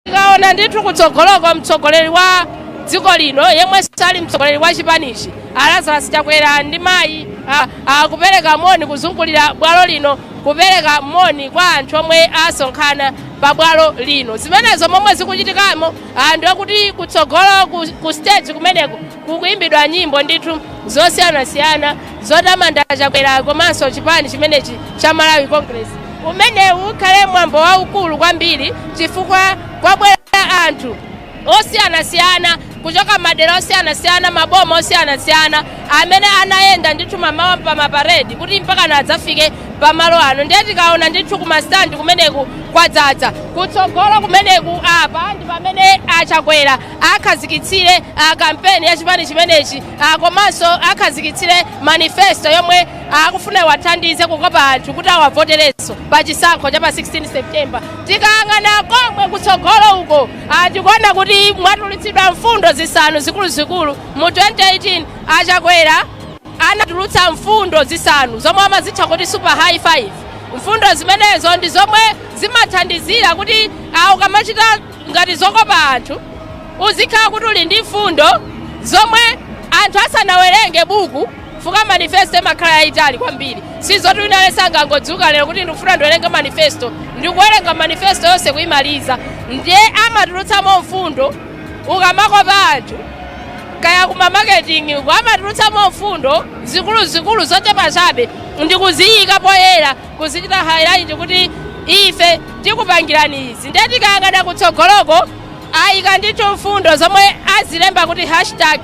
tikaona ndithu kutsogoloko mtsogoleri wa dziko lino yemwenso ali mtsogoleri wa chipanichi a Lazarus Chakwera ndi mayi a- akupereka moni kuzungulira bwalo lino kupereka moni kwa anthu omwe asonkhana pa bwalo lino zimenezo momwe zikuchitikamo ndiye kuti kutsogolo ku, ku stage kumeneko kukuimbidwa nyimbo ndithu zosiyanasiyana zotamanda chakwera komanso chipani chimenechi cha malawi congress umenewu ukhale mwambo waukulu kwambiri chifukwa kwabwera anthu osiyanasiyana kuchoka madera osiyanasiyana maboma osiyanasiyana amene anayenda ndithu mamawa pa maparedi kuti mpakana adzafike pamalo ano ndiye tikaona ndithu kumastandi kumeneku kwadzadza kutsogolo kumeneku apa ndi pamene achakwera akhazikitsire ah, kampeni ya chipani chimenechi ah, komanso akhazikitsire manifesto yomwe ah, akufuna iwathandize kukopa anthu kuti awavoterenso pa chisankho cha pa 16 septemba tikayang'ana komwe kutsogolo uko ah, tikuona kuti mwatulutsidwa mfundo zisanu zikuluzikulu mu 2018 achakwera anatulutsa mfundo zisanu zomwe amazitcha kuti super high five mfundo zimenezo ndi zomwe zimathandizira kuti ah, ukamachita ngati zokopa anthu uzikhala kuti uli ndi mfundo zomwe anthu asanawerenge buku fuka manifesto imakhala yayitali kwambiri si zoti wina aliyense angangodzuka lero kuti ndikufuna ndiwerenge manifesto ndikuwerenga manifesto yonse kuyimaliza ndiye amatulutsamo mfundo ukamakopa anthu kaya kuma marketing uko amatulutsamo mfundo zikuluzikulu zochepa chabe ndikuziyika poyera kuzichita highlight kuti ife tikupangirani izi ndiye tikayang'ana kutsogoloko ayika ndithu mfundo zomwe azilemba kuti hashtag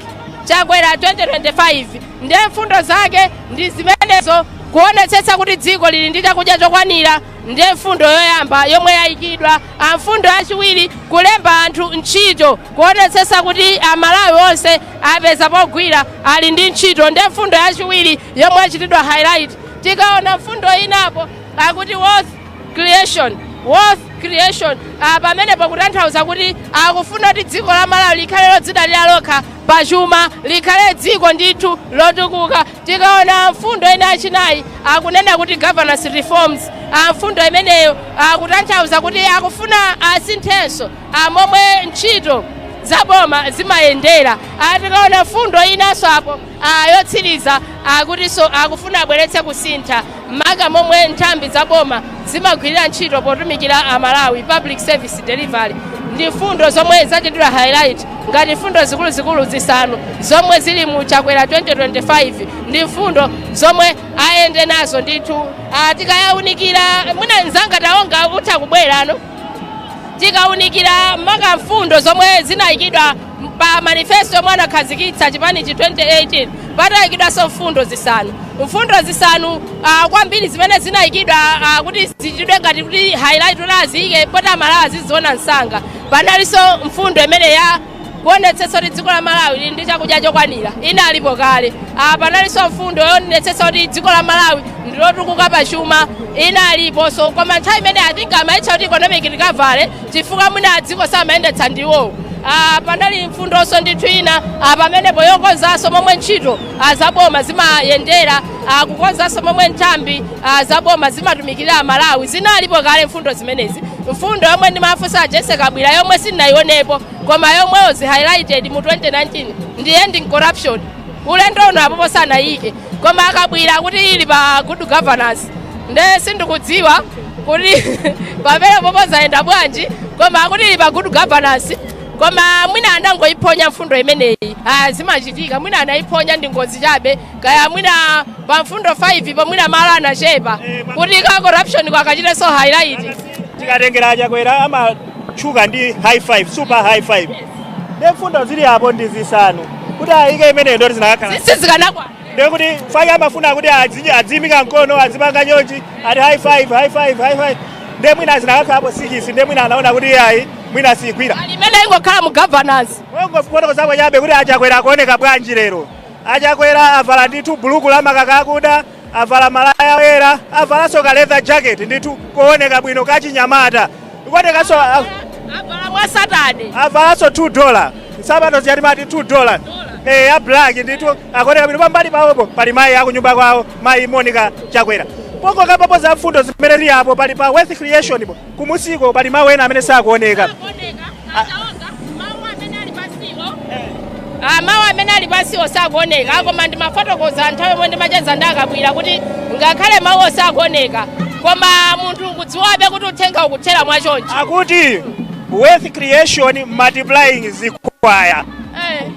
chakwera 2025 ndiye mfundo zake ndi zimenezo kuonetsetsa kuti dziko lili ndi chakudya chokwanira ndiye mfundo yoyamba yomwe yayikidwa a mfundo yachiwiri kulemba anthu ntchito kuonetsetsa kuti amalawi onse apeza pogwira ali ndi ntchito ndiye mfundo yachiwiri yomwe yachitidwa highlight. Tikaona mfundo ina apo akuti wealth creation, wealth creation ah, pamenepo kutanthauza kuti akufuna kuti dziko la Malawi likhale lodzidalira lokha pa chuma, likhale dziko ndithu lotukuka. Tikaona mfundo ina yachinayi akunena kuti governance reforms ah, mfundo imeneyo akutanthauza kuti akufuna asinthenso ah, momwe ntchito zaboma zimayendera. Ah, Tikaona mfundo inanso apo a yotsiriza akutinso akufuna abweretse kusintha maka momwe nthambi za boma zimagwirira ntchito potumikira amalawi public service delivery ndi mfundo zomwe zachitidwa highlight ngati mfundo zikuluzikulu zisanu zomwe zili mu chakwera 2025 ndi mfundo zomwe ayende nazo ndithu Ah, tikaunikira mwina nzanga Taonga utha kubwerano tikaunikira maka mfundo zomwe zinayikidwa pa manifesto yomwe anakhazikitsa chipanichi 2018 panayikidwanso mfundo zisanu mfundo zisanu uh, kwambiri zimene zinayikidwa uh, kuti zichitidwe ngati kuti highlight kuti aziyike poti amalawi aziziona msanga panalinso mfundo imene ya kuonetsetsa kuti dziko la malawi lili ndi chakudya chokwanira inalipo kale uh, panalinso mfundo yoonetsetsa kuti dziko la malawi ndilotukuka pa chuma inaliponso koma nthawi imene atinga amayitcha kuti economic recovery chifukwa mwina dziko samayendetsa ndiwowo Ah, panali mfundonso ndithu ina ah, pamenepo yokonzanso momwe ntchito ah, zaboma zimayendera ah, kukonzanso momwe nthambi ah, zaboma zimatumikira amalawi zinalipo kale mfundo zimenezi mfundo yomwe ndimafunsa a Jessie Kabwira yomwe sindinaionepo koma yomwe was highlighted mu 2019 ndi ending corruption ulendo uno apopo sanayike koma a Kabwira akuti ili pa good governance nde sindikudziwa kuti pamenepopo zayenda bwanji koma akuti ili pa good governance koma mwina anangoiphonya mfundo imeneyi ah, zimachitika mwina anaiphonya ndi ngozi chabe kaya mwina pa mfundo 5 po mwina malo anachepa kuti ka corruption ka akachitenso highlight tikatengera achakwera amatchuka ndi high five super high five Ndiye mfundo zili apo ndi zisanu kuti ayike imeneyo ndoti zinakakhala sikisi sizikanakwana. ndiye kuti five amafuna kuti adzi- adziyimika mkono adzipanga chonchi ati high five high five high five ndiye mwina zinakakhalapo sikisi ndiye mwina anaona kuti ayi mwina siyigwira Ayi imene ingokhala mu governance. Pongofotokozapo chabe kuti achakwera akuoneka bwanji lero achakwera avala ndithu buluku la makaka akuda Avala malaya oyera, avalanso ka leather jacket ndithu kooneka bwino kachinyamata. Kuonekanso a- avala mwa satade avalanso Tony Lama. Nsapato zija timati Tony Lama. Eh, ya black ndithu akuoneka bwino pambali pawopo pali mayi akunyumba kwawo, mayi Monica Chakwera. Pokokerapo za mfundo zimene tili apo pali pa wealth creation po. Kumusiku pali mawu ena amene sakuoneka. Ah, mawu amene ali pansiwo sakuoneka koma ndimafotokoza nthawi yomwe ndimacheza ndi akabwira kuti ngakhale mawuwo sakuoneka koma munthu ukudziwabe kuti uthenga ukuthera mwachonchi Akuti wealth creation multiplying zikwaya. Eh,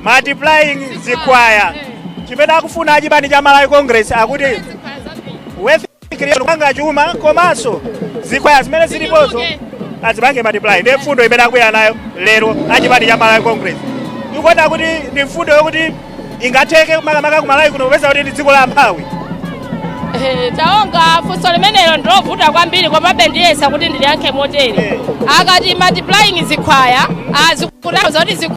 Multiplying zikwaya. eh, Chimene akufuna achipani cha Malawi Congress akuti zikhala zambiri. wealth Creation kupanga chuma komanso zikhwaya zimene zilipozo azipange multiply ndi mfundo imene akubwera nayo lero achipani cha Malawi Congress. Mukuona kuti ndi mfundo yokuti ingatheke makamaka ku Malawi kuno popeza kuti ndi dziko la amphawi. Eh, taonga funso limenelo ndilovuta kwambiri komabe ndiyesa kuti ndiliyankhe motere akati multiplying zikhwaya akutanthauza zoti zikhu-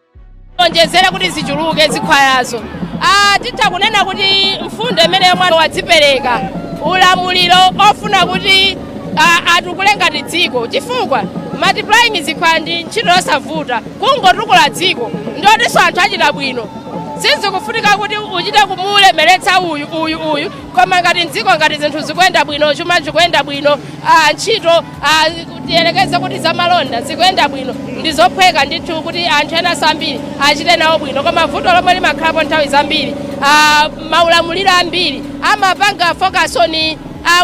onjezere kuti zichuluke zikhwayazo Ah, titha kunena kuti mfundo imeneyo munthu wadzipereka ulamuliro ofuna kuti ah, atukule ngati dziko chifukwa multiplying zikhwaya ndi ntchito yosavuta kungotukula dziko ndiye kutinso anthu achita bwino sizikufunika kuti uchite kumulemeretsa uyu uyu uyu koma ngati mdziko ngati zinthu zikuyenda bwino chuma chikuyenda bwino ah, ntchito Tiyerekeze kuti zamalonda zikuyenda bwino, ndi zophweka ndithu kuti anthu enanso ambiri achite nawo bwino. Koma vuto lomwe limakhalapo nthawi zambiri, maulamuliro ambiri amapanga focus on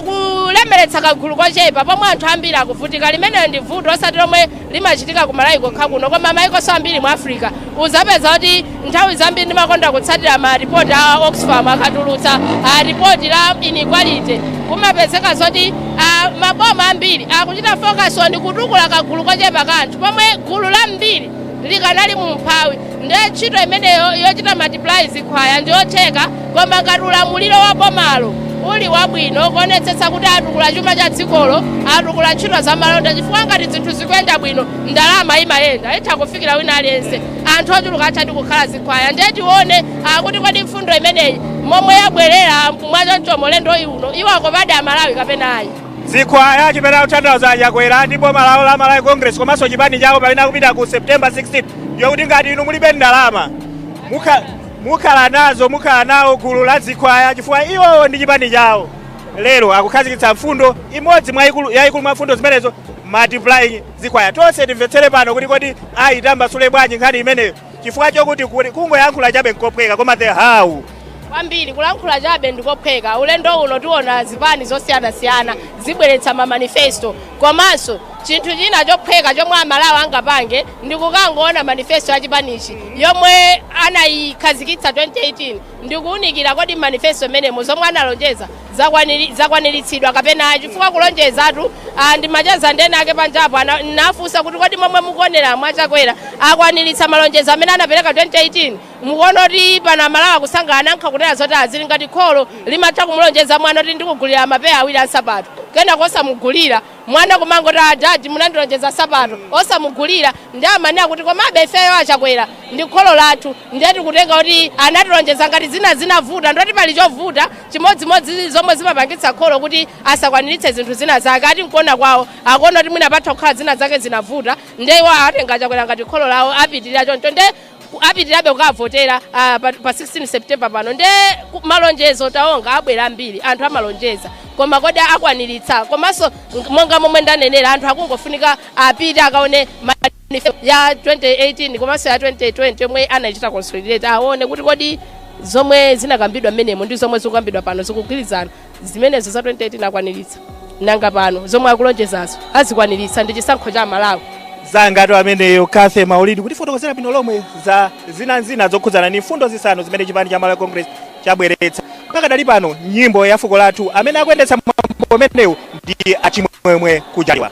kulemeretsa kagulu kochepa pomwe anthu ambiri akuvutika. Limenelo ndi vuto, osati lomwe limachitika ku Malawi kokha kuno koma mayikonso ambiri mu Africa. Uzapeza kuti nthawi zambiri ndimakonda kutsatira ma report a Oxfam akatulutsa a report la inequality kumapezeka zoti a, maboma ambiri akuchita focus on kutukula kagulu kochepa ka anthu pomwe gulu lambiri likanali mu umphawi. Ndiye ntchito imeneyo yochita multiply zikhwaya njotheka koma ngati ulamuliro wa bomalo uli wabwino kuonetsetsa kuti atukula chuma cha dzikolo, atukula ntchito zamalonda chifukwa ngati zinthu zikuyenda bwino ndalama imayenda, itha kufikira wina aliyense, anthu ochuluka athadi kukhala zikhwaya. Ndiye tione a kuti kodi mfundo imeneyi momwe yabwelera mwachonchomo ulendo uno iwakopadi Amalawi kapena ayi. Zikhwaya chimene akutanthauza a Chakwera ndi boma lawo la Malawi Congress komanso chipani chawo pamene akupita ku September 16 ndiyokuti ngati inu mulibe ndalama mukha- mukhala nazo mukhala nawo gulu la zikhwaya chifukwa iwowo ndi chipani chawo lero akukhazikitsa mfundo imodzi mwa ikulu- yayikulu mwa mfundo zimenezo multiplying zikhwaya tonse timvetsere pano kuti kodi ayitambasule bwanji nkhani imeneyo chifukwa chokuti kuli- kungoyankhula chabe nkophweka koma the how kwambiri kulankhula chabe ndikophweka ulendo uno tiona zipani zosiyanasiyana zibweretsa mamanifesto komanso chinthu china chophweka chomwe amalawi angapange ndi kukangoona manifesto ya chipanichi yomwe anayikhazikitsa 2018 ndikuunikira kodi m'manifesto imenemo zomwe analonjeza zakwaniri- zakwaniritsidwa kapena ayi chifukwa kulonjezatu ah, ndimacheza ndi enaake panjapo ana- nafunsa kuti kodi momwe mukuonera mu a Chakwera akwaniritsa malonjezo amene anapereka 2018 mukuona kuti pano Amalawi akusangalala anayankha kunena zoti ah zili ngati kholo limatha kumulonjeza mwana kuti ndikugulira mapeya awiri ansapato kenako osamugulira Mwana kumangoti a dad munandilonjeza nsapato osamugulira ndiye amanena kuti komabe ifeyo a Chakwera ndi kholo lathu ndiye tikutenga kuti anatilonjeza ngati zina zinavuta ndiye kuti pali chovuta chimodzimodzi zomwe zimapangitsa kholo kuti asakwaniritse zinthu zina zake ati nkuona kwawo akuona kuti mwina patha kukhala zina zake zinavuta ndiye iwo atenga a Chakwera ngati kholo lawo apitirira choncho ndiye ku- apitirabe kukavotera ah, pa, pa 16 september pano nde ku- malonjezo taonga abwera ambiri anthu amalonjeza koma kodi akwaniritsa komanso ng- monga momwe ndanenera anthu akungofunika apite akaone manifesto ya 2018 komanso ya 2020 yomwe anaichita consolidate aone kuti kodi zomwe zinakambidwa mmenemo ndi zomwe zikukambidwa pano zikugwirizana zimenezo za 2018 akwaniritsa nanga pano zomwe akulonjezazo azikwaniritsa ndi chisankho cha amalawi zikomotu ameneyo cathy maulidi kutifotokozera bwino lomwe za zina ndi zina zokhudzana ndi mfundo zisanu zimene chipani cha malawi congress chabweretsa pakadali pano nyimbo ya fuko lathu amene akuyendetsa mwambo umenewu ndi achimwemwe kujaliwa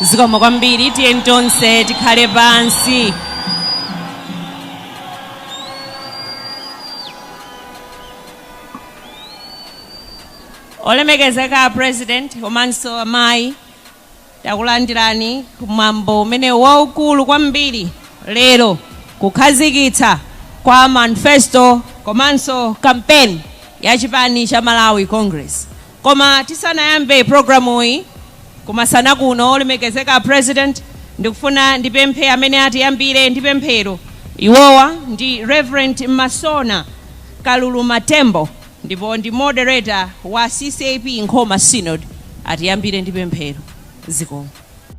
zikomo kwambiri tiyeni tonse tikhale pansi olemekezeka a president komanso amayi takulandirani kumwambo umenewu waukulu kwambiri lero kukhazikitsa kwa manifesto komanso kampeni ya chipani cha malawi congress Koma tisanayambe programuyi kumasana kuno, olemekezeka a President, ndikufuna ndipemphe amene atiyambire ndi pemphero. Iwowa ndi Rev. Masona Kaluluma Tembo ndipo ndi moderator wa ccap Nkhoma Synod. Atiyambire ndi pemphero. Zikomo.